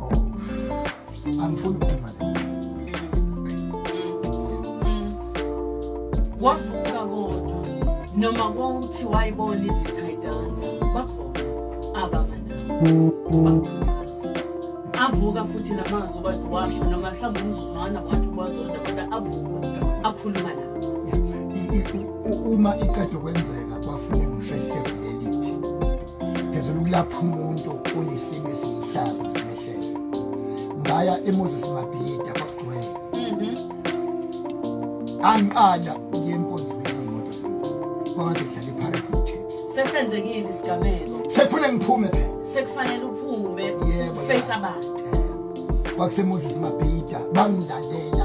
Oh. Angifuni ukuphuma la. Wavuka kodwa noma kongithi wayibona izitha idansa bakhona ababa nabo. Bakhuthaza. Avuka futhi namazwi kade washo noma mhlawumbe umzuzwana wathi kwazona kodwa avuka akhuluma nabo. I- i- u- Uma iqeda kwenzeka bafune ngisho isebenzi. ngezela ukulapha umuntu onesimo esiyihlazo esimehlele ngaya emoses mabhida kwakugcwele mhm. angiqala ngiyenkonzweni yemoto kwangathi kudlala ipirates nechips sesenzekile isigameko sekufuna ngiphume phela sekufanele uphume face abantu kwakusemoses mabhida bangilalela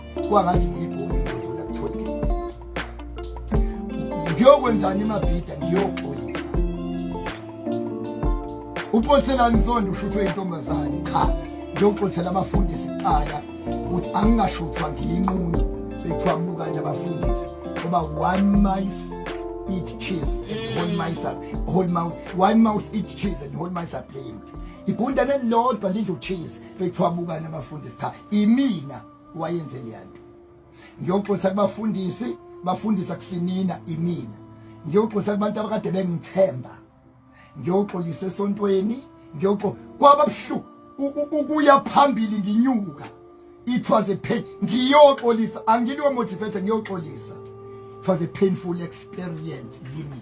kwangathi ngiyibhungu ngidlula ku-tollgate ngiyokwenzani emabhida ngiyoxolisa uxoliselani sonto ushuthwe intombazane cha ngiyoxolisela abafundisi kuqala ukuthi angingashuthwa ngiyinqunu bekuthiwa kubukanye abafundisi ngoba one mice eat cheese and whole mice are whole mouth one mouse eat cheese and whole mice are blamed igundane lilodwa lidla ucheese bekuthiwa bukane abafundisi cha imina wayenze leyanto ngiyoxolisa kubafundisi bafundisa kusinina imina ngiyoxolisa kubantu abakade bengithemba ngiyoxolisa esontweni ngiyoxo kwababhlu ukuya phambili nginyuka it was a pain ngiyoxolisa angiliwe motivate ngiyoxolisa it was a painful experience kimi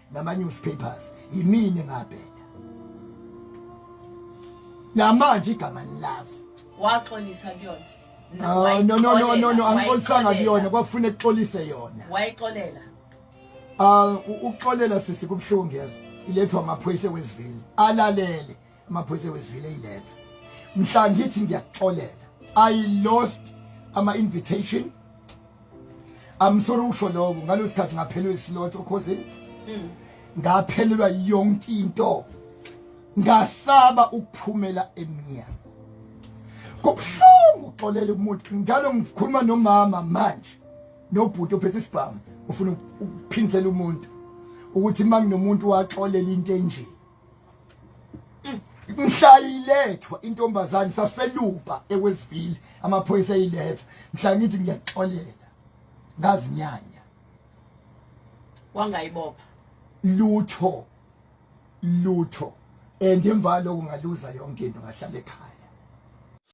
nama newspapers yimini engabheda namanje igama nilazi waxolisa kuyona ah, no no no no no angixolisanga kuyona kwafuna ekuxolise yona wayixolela ah ukuxolela sisi kubuhlungu yazi ilethwa amaphoyisa wesivile alalele amaphoyisa wezivile iletha mhla ngithi ngiyakuxolela i lost ama invitation I'm sorry usho lokho ngalo sikhathi ngaphelwe islot okhosini mm. ngaphelelwa yonke into ngasaba ukuphumela emnyango kubuhlungu uxolela umuntu njalo ngikhuluma nomama manje nobhuti ophethe isibhamu ufuna ukuphindisela umuntu ukuthi uma kunomuntu waxolela into enje mhla ilethwa intombazane saseluba ekwezivile amaphoyisa eyiletha mhla ngithi ngiyaxolela ngazinyanya wangayibopha lutho lutho and emva lokho ngaluza yonke into ngahlala ekhaya